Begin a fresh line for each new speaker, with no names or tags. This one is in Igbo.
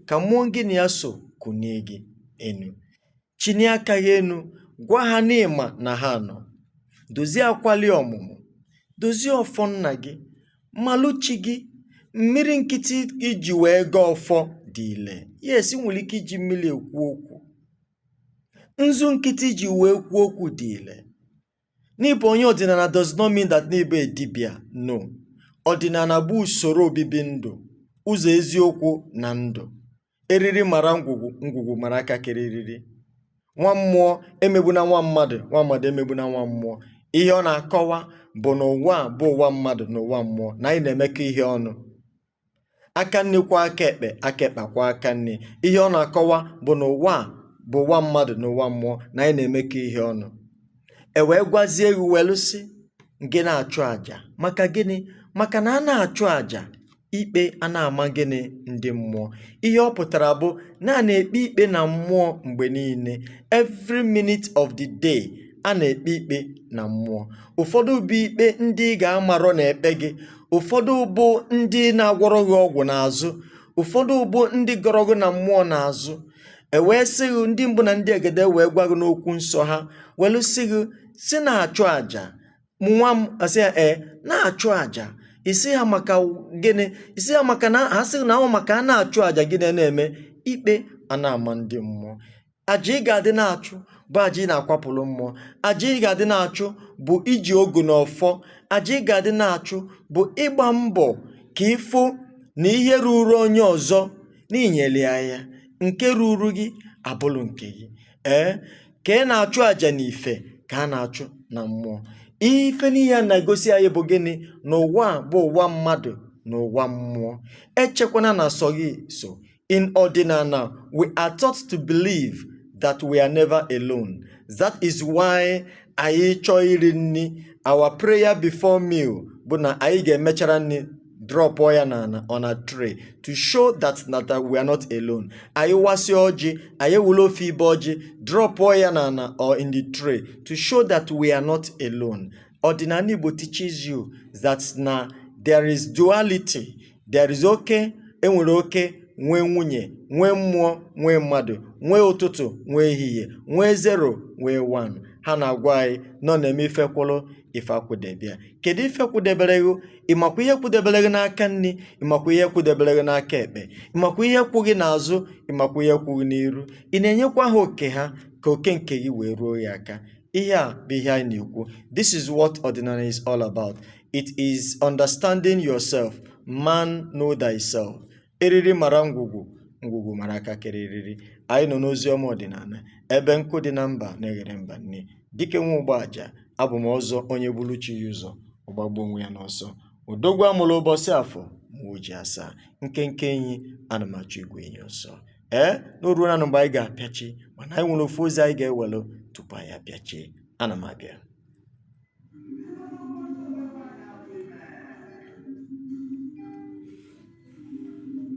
ka mmụọ gị na ya so kunie gị enu chinie aka gị enu gwa ha na ị ma na ha nọ dozie akwali ọmụmụ dozie ọfọ nna gị malụ chi gị mmiri nkịtị i ji wee gọọ ọfọ dị ile yes i nwere ike iji mmiri ekwu okwu nzu nkịtị i ji wee kwuo okwu dị ile Na ị bụ onye ọdịnala does not mean that na ị bụ a dibịa. No. Ọdịnala bụ usoro obibi ndụ, ụzọ eziokwu na ndụ. Eriri mara ngwugwu, ngwugwu mara aka kere eriri. Nwa mmụọ emegbuna nwa mmadụ, nwa mmadụ emegbuna nwa mmụọ. Ihe ọ na-akọwa bụ na ụwa a bụ ụwa mmadụ na ụwa mmụọ, na anyị na-emekọ ihe ọnụ. aka nni kwọọ aka ekpe aka ekpe kwọọ aka nni ihe ọ na-akọwa bụ na ụwa a bụ ụwa mmadụ na ụwa mmụọ na anyị na-emekọ ihe ọnụ e wee gwazie gị welu sị gị na-achụ àjà maka gịnị maka na a na-achụ àjà ikpe a na-ama gịnị ndị mmụọ ihe ọ pụtara bụ na a na-ekpe ikpe na mmụọ mgbe niile every minute of the day a na-ekpe ikpe na mmụọ ụfọdụ bụ ikpe ndị ị ga-amarọ na-ekpe gị ụfọdụ bụ ndị na-agwọrọ gị ọgwụ n'azụ ụfọdụ bụ ndị gọrọ gị na mmụọ n'azụ e wee sị gị ndị mbụ na ndị egede wee gwa gị n'okwu nsọ ha welu sị gị sị na-achụ àjà nwa m ị sị ha ee na-achụ àjà ị sị ha maka gịnị ị sị ha maka na ha sị na ọ maka a na-achụ àjà gịnị na-eme ikpe a na-ama ndị mmụọ aja ị ga-adị na-achụ bụ aja ị na-akwapụrụ mmụọ aja ị ga-adị na-achụ bụ iji ogu na ọfọ aja ị ga-adị na-achụ bụ ịgba mbọ ka ị fụ na ihe ruru onye ọzọ na i nyere ya ya nke ruru gị abụrụ nke gị ee ka ị na-achụ aja n'ife ka a na-achụ na mmụọ ife niile a na-egosi anyị bụ gịnị na ụwa a bụ ụwa mmadụ na ụwa mmụọ echekwana na sọ gị so In Ọdịnana, we are taught to believe that we are never alone. That is why anyị chọọ iri nni, our prayer before meal bụ na anyị ga-emechara nni drop ya n'ana on a tray to show that na we are not alone. Anyị wasịa ọjị, anyị were ofu ibe ọjị, drop ya n'ana or in the tray to show that we are not alone. ọdịnala Igbo teaches you that na there is duality there is oke e nwere oke nwee nwunye nwee mmụọ nwee mmadụ nwee ụtụtụ nwee ehihie nwee zero nwee one ha na-agwa anyị na ọ na-eme ife kwụrụ ife akwụdebe ya kedu ife kwụdebere gị ị makwa ihe kwụdebere gị n'aka nni ị makwa ihe kwụdebere gị n'aka ekpe ị makwa ihe kwụ gị n'azụ ị makwa ihe kwụ gị n'iru ị na-enyekwa ha oke ha ka oke nke gị wee ruo gị aka Ihe a bụ ihe anyị na-ekwu. This is what ọdịnala is all about. It is understanding yourself. Man know thyself. Eriri mara ngwugwu, ngwugwu mara aka kere eriri. Anyị nọ n'ozi ọma ọdịnala ebe nkụ dị na mba na-eghere mba nni. Dike nwa Ụgbaja, abụ m ọzọ onye buru chi ya ụzọ, ọ gbagbuo onwe ya n'ọsọ. Odogwu a mụrụ ụbọchị afọ ma o ji asaa. Nkenke enyi, ana m achụ igwe enyi ọsọ. ee na o ruonanụ mgbe anyị ga-apịachi mana anyị nwere ofu ozi anyị ga-ewelụ tupu anyị apịachie ana m abịa